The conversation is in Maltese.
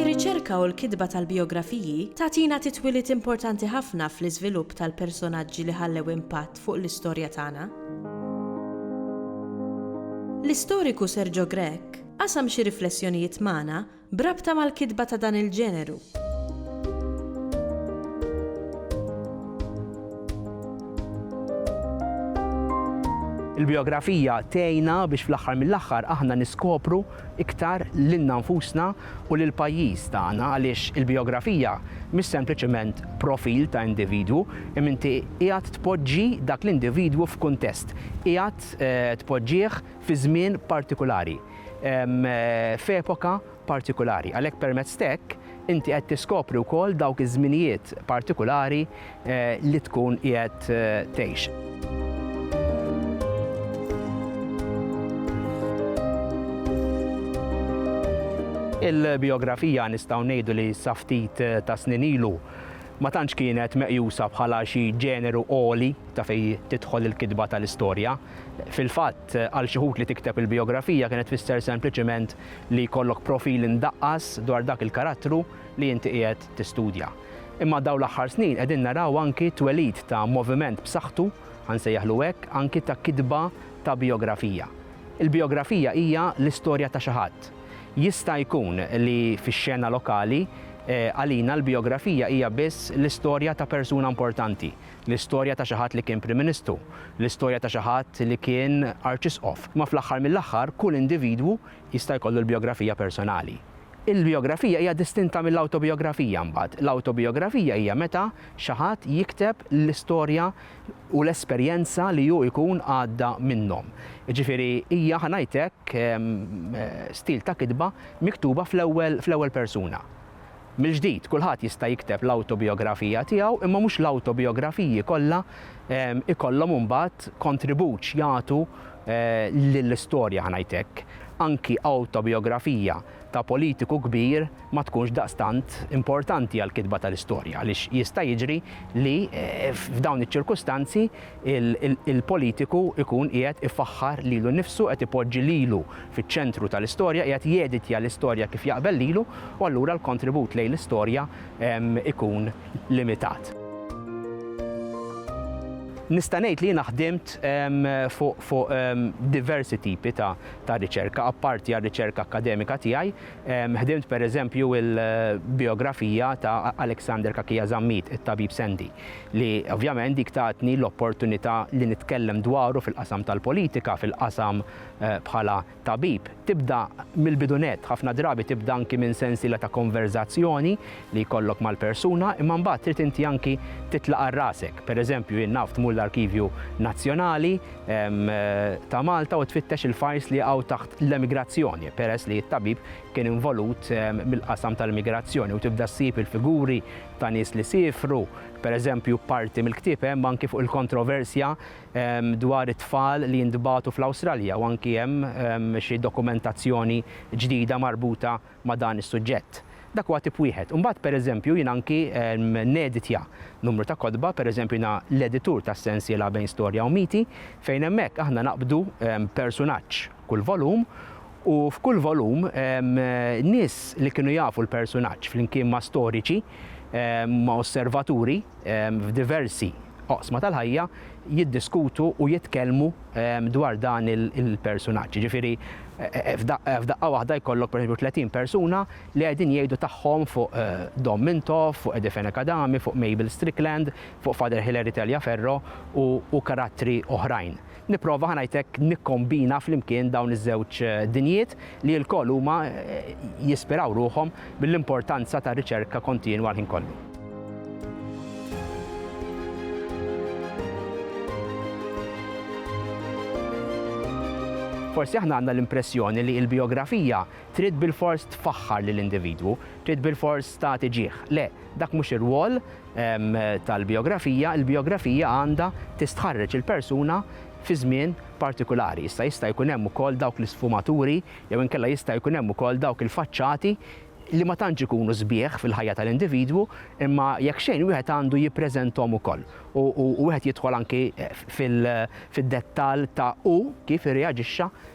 Ir-riċerka u l-kitba tal-bijografiji tagħtina titwiliet importanti ħafna fl-iżvilupp tal-personaġġi li ħallew impatt fuq l-istorja tagħna. L-istoriku Sergio Grech Qasam xi riflessjonijiet magħna b'rabta mal-kitba ta' dan il-ġeneru. Il-bijografija tgħinna biex fl-aħħar mill-aħħar aħna niskopru iktar lilna nfusna u lill-pajjiż tagħna għaliex il-bijografija mhix sempliċement profil ta' individwu imma inti qiegħed tpoġġi dak l-individwu f'kuntest, qiegħed tpoġġih fi żmien partikulari, f'epoka partikulari. Għalhekk permezz t'hekk inti qed tiskopri wkoll dawk iż-żminijiet partikulari li tkun qiegħed tgħix. Il-bijografija nistgħu ngħidu li sa ftit tas-snin ilu ma tantx kienet meqjusa bħala xi ġeneru għoli ta' fejn tidħol il-kitba tal-istorja. Fil-fatt, għal xi wħud li tikteb il-bijografija kienet tfisser sempliċement li jkollok profil indaqqas dwar dak il-karattru li inti qiegħed tistudja. Imma dawn l-aħħar snin qegħdin naraw anki t-twelid ta' moviment b'saħħtu, ħa nsejjaħlu hekk, anki ta' kitba ta' bijografija. Il-bijografija hija l-istorja ta' xi ħadd. Jista' jkun li fix-xena lokali, għalina l-bijografija hija biss l-istorja ta' persuna importanti, l-istorja ta' xi ħadd li kien Prim Ministru, l-istorja ta' xi ħadd li kien Arċisqof, imma fl-aħħar mill-aħħar kull individwu jista' jkollu l-bijografija personali. Il-bijografija hija distinta mill-awtobijografija mbagħad. L-awtobijografija hija meta xi ħadd jikteb l-istorja u l-esperjenza li hu jkun għadda minnhom. Jiġifieri hija, ħa ngħid hekk, stil ta' kitba miktuba fl-ewwel fl-ewwel persuna. Mill-ġdid, kulħadd jista' jikteb l-awtobijografija tiegħu imma mhux l-awtobijografiji kollha jkollhom imbagħad kontribut x'jagħtu lill-istorja, ħa ngħid hekk. Anki awtobijografija ta' politiku kbir ma tkunx daqstant importanti għall-kitba tal-istorja għaliex jista' jiġri li f'dawn iċ-ċirkustanzi l-politiku jkun qiegħed ifaħħar lilu nnifsu, qed ipoġġi lilu fiċ-ċentru tal-istorja, qiegħed jeditja l-istorja kif jaqbel lilu u allura l-kontribut lejn l-istorja jkun limitat. Nista' ngħid li jiena ħdimt fuq diversi tipi ta' ta' riċerka, apparti għar-riċerka akkademika tiegħi, ħdimt pereżempju il-bijografija ta' Alexander Cachia Zammit, it-Tabib Sandy, li ovvjament dik tatni l-opportunità li nitkellem dwaru fil-qasam tal-politika, fil-qasam bħala tabib. Tibda mill-bidu nett, ħafna drabi tibda anki minn sensiela ta' konverżazzjoni li jkollok mal-persuna, imma mbagħad trid inti anki titlaq għal rasek. Pereżempju jien naf tmur l-Arkivju Nazzjonali, ta' Malta u tfittex il-fajls li jaqgħu taħt l-emigrazzjoni, peress li t-tabib kien involut mill-qasam tal-emigrazzjoni u tibda ssib il-figuri ta' nies li siefru, pereżempju parti mill-ktieb hemm anki fuq il-kontroversja dwar it-tfal li jintbagħtu fl-Awstralja u anki hemm xi dokumentazzjoni ġdida marbuta ma' dan is-suġġett. Dak huwa tip wieħed. Imbagħad, pereżempju, jiena anki neditja numru ta' kotba, pereżempju jiena l-editur tas-sensiela Bejn Storja u Miti, fejn hemmhekk aħna naqbdu persunaġġ kull volum u f'kull volum nies li kienu jafu l-persunaġġ flimkien ma' storiċi, ma' osservaturi f'diversi oqsma tal-ħajja jiddiskutu u jitkellmu dwar dan il-persunaġġ. Jiġifieri f'daqqa waħda jkollok pereżempju 30 persuna li qegħdin jgħidu tagħhom fuq Dom Mintoff, fuq Eddie Fenech Adami, fuq Mabel Strickland, fuq Father Hilary Taliaferro u karattri oħrajn. Nipprova, ħa ngħid hekk, nikkombina flimkien dawn iż-żewġ dinjiet li lkoll huma jispiraw ruħhom mill-importanza tar-riċerka kontinwa l-ħin kollu. Forsi aħna għandna l-impressjoni li l-bijografija trid bilfors tfaħħar lill-individwu, trid bilfors tagħti ġieħ. Le, dak mhux ir-rwol tal-bijografija, il-bijografija għandha tistħarreġ il-persuna fi żmien partikulari. Issa jista' jkun hemm ukoll dawk l-isfumaturi jew inkella jista' jkun hemm ukoll dawk il-faċċati li ma tantx ikunu sbieħ fil-ħajja tal-individwu, imma jekk xejn wieħed għandu jippreżenthom ukoll u wieħed jidħol anki fid-dettall ta' hu kif irreaġixxa